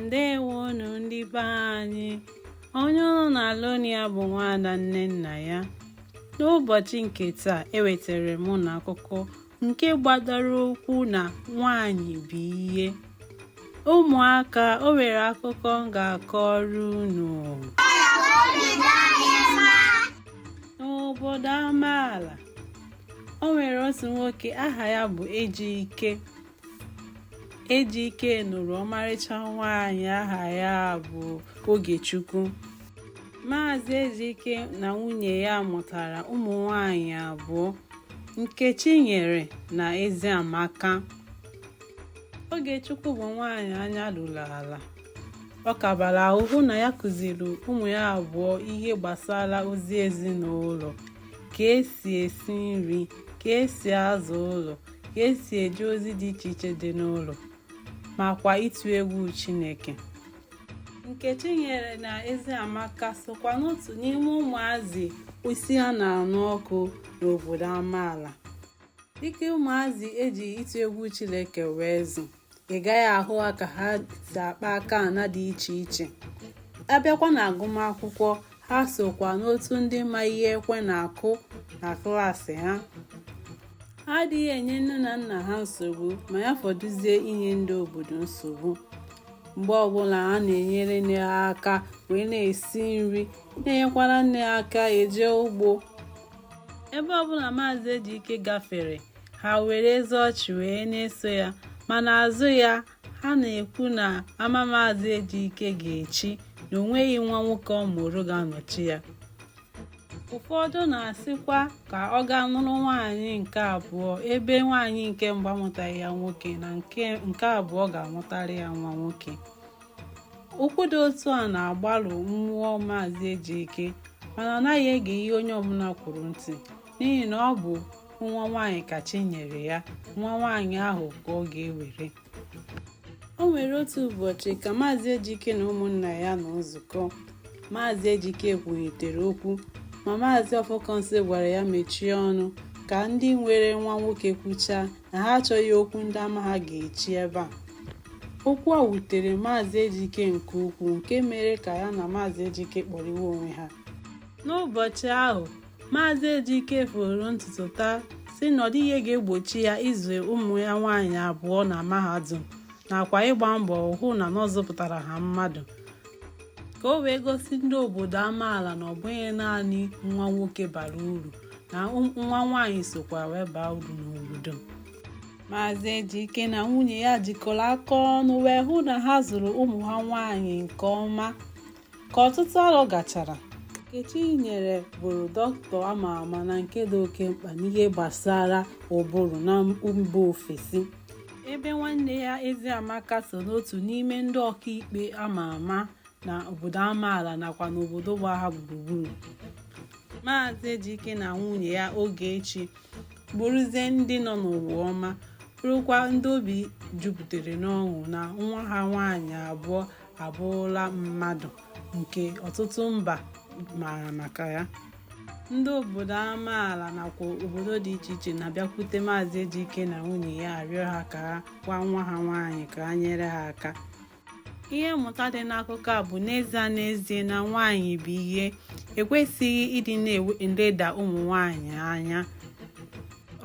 ndewonu ndị be anyị onye unu na-anụ olu ya bụ nwaada nnennaya n'ụbọchị nke taa ewetara m unu akụkọ nke gbadoro ụkwụ na nwanyị bụ ihe ụmụaka o nwere akụkọ m ga-akọrọ unu n'obodo amaala o nwere otu nwoke aha ya bụ ejike Ejike nụrụ ọmarịcha nwaanyị aha ya bụ Ogechukwu. Maazị Ejike na nwunye ya mụtara ụmụ nwaanyị abụọ, Nkechinyere na Eziamaka. Ogechukwu bụ nwaanyị anya ruru ala. Ọ kabara ahụ hụ na ya kụziri ụmụ ya abụọ ihe gbasara ozi ezinụlọ, ka esi esi nri, ka esi aza ụlọ. ka esi eje ozi dị iche iche dị n'ụlọ ma kwa ịtụ egwu Chineke. Nkechinyere na Eziamaka sokwa n'otu n'ime ụmụazị isi ha na-anụ ọkụ n'obodo amaala dịka ụmụazị eji ịtụ egwu Chineke wee zụ. ị gaghị ahụ ha ka ha si akpa aka ana dị iche iche abịakwa na agụmakwụkwọ ha sokwa n'otu ndị ma ihe ekwe na-akụ na klaasị ha ha adịghị enye nne na nna ha nsogbu ma ya fọdụzie inye ndị obodo nsogbu mgbe ọbụla ha na-enyere nne ha aka wee na-esi nri na-enyekwara nne ha aka eje ugbo ebe ọbụla maazị ejike gafere ha were eze ọchị wee na-eso ya ma n'azụ ya ha na-ekwu na ama maazị ejike ga-echi na o nweghị nwa nwoke ọ mụrụ ga-anọchi ya ụfọdụ na-asịkwa ka ọ gaa nụrụ nwaanyị nke abụọ ebe nwaanyị nke mbụ amụtaghị ya nwoke na nke abụọ ga-amụtara ya nwa nwoke okwu dị otu a na-agbarụ mmụọ maazị ejike mana ọ naghị ege ihe onye ọbụla kwuru ntị n'ihi na ọ bụ nwa nwaanyị ka chi nyere ya nwa nwaanyị ahụ ka ọ ga-ewere o nwere otu ụbọchị ka maazị ejike na ụmụnna ya nọ nzukọ maazị ejike kwuhitere okwu ma maazị ọfọkọnsị gwara ya mechie ọnụ ka ndị nwere nwa nwoke kwuchaa na ha achọghị okwu ndị ama ha ga-echi ebe a okwu a wutere maazị ejike nke ukwuu nke mere ka ya na maazị ejike kpọrịwa onwe ha n'ụbọchị ahụ Maazị Ejike foro ntutu taa sị na ọ dịghị ihe ga-egbochi ya ịzụ ụmụ ya nwaanyị abụọ na mahadum nakwa ịgba mbọ hụ na ọ zụpụtara ha mmadụ ka o wee gosi ndị obodo amaala na ọ bụghị naanị nwa nwoke bara uru na nwa nwaanyị sokwa wee baa uru n'obodo Maazị Ejike na nwunye ya jikọrọ aka ọnụ wee hụ na ha zụrụ ụmụ ha nwaanyị nke ọma Ka ọtụtụ arọ gachara, Nkechinyere bụrụ dọkịta a ma ama na nke dị oke mkpa n'ihe gbasara ụbụrụ na mba ofesi. Ebe nwanne ya Eziamaka so n'otu n'ime ndị ọkaikpe a ma ama na obodo amaala nakwa n'obodo gba ha gburugburu. Maazị Ejike na nwunye ya Ogechi bụrụzie ndị nọ n'ụwa ọma bụrụkwa ndị obi jupụtara n'ọṅụ na nwa ha nwaanyị abụọ abụrụla mmadụ nke ọtụtụ mba maara maka ya ndị obodo amaala nakwa obodo dị iche iche na-abịakwute maazị Ejike na nwunye ya arịọ ha ka ha gwa nwa ha nwaanyị ka ha nyere ha aka ihe mmụta dị n'akụkọ a bụ n'ezie n'ezie na nwaanyị bụ ihe ekwesịghị ịdị na-eleda ụmụ nwaanyị anya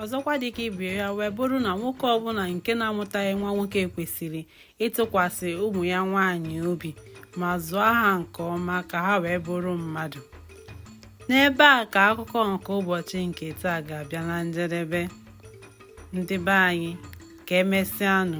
ọzọkwa dịka ibe ya wee bụrụ na nwoke ọbụla nke na-amụtaghị nwa nwoke kwesịrị ịtụkwasị ụmụ ya nwaanyị obi ma zụọ ha nke ọma ka ha wee bụrụ mmadụ n'ebe a ka akụkọ nke ụbọchị nke taa ga-abịa na njedebe ndị be anyị ka emesịanụ